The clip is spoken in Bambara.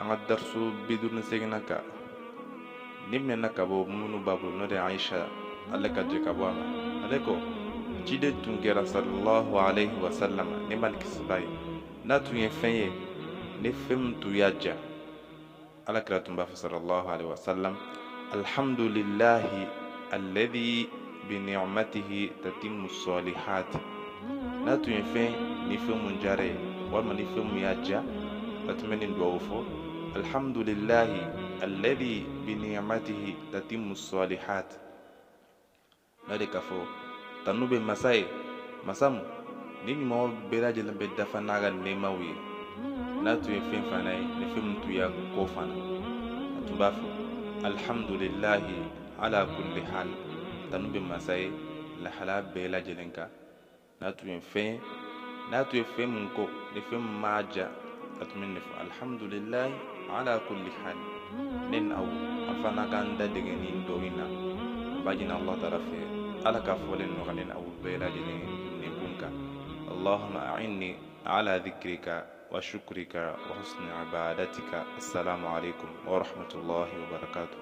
an ka darisu bi duuru ni seeginnan kan nin minɛna ka bɔ muminuw ba bolo n'o de ye ayisa ala ka jɛn ka bɔ a ma ale ko ciden tun kɛra sallallahu alaihi wa sallam nɛɛma ni kisi b'a ye n'a tun ye fɛn ye ni fɛn min tun y'a diya ala kira tun b'a fɔ sallallahu alaihi wa sallam alhamdulilahi alladhi bi ni'matihi tatimmu salihat n'a tun ye fɛn ni fɛn mun diyar'a ye walima ni fɛn mun y'a diya a tun bɛ nin dugawu fɔ alhamdulilahi alladhi bi ni'matihi tatimmu salihat n'a de ka fɔ tanu bɛ masa ye masa mun ni ɲumanw bɛɛ lajɛlen bɛ dafa n'a ka nɛɛmaw ye n'a tun ye fɛn fana ye ni fɛn mun tun y'a kɔn fana a tun b'a fɔ alhamdulilahi ala kulli hal tanu bɛ masa ye lahala bɛɛ lajɛlen kan n'a tun ye fɛn min kɔn ni fɛn min m'a diya a tun bɛ nin fɔ alhamdulilahi ala kulli hal ne ni aw an fana k'an da dege nin dugawu in na an b'a ɲini ala taala fɛ ala k'a fɔli nɔgɔ ne ni aw bɛɛ lajɛlen nɛnkun kan allahumma a'inni ala dhikrika wa shukrika wa husni ibadatika assalamu alaikum wa rahmatullahi wa barakatuh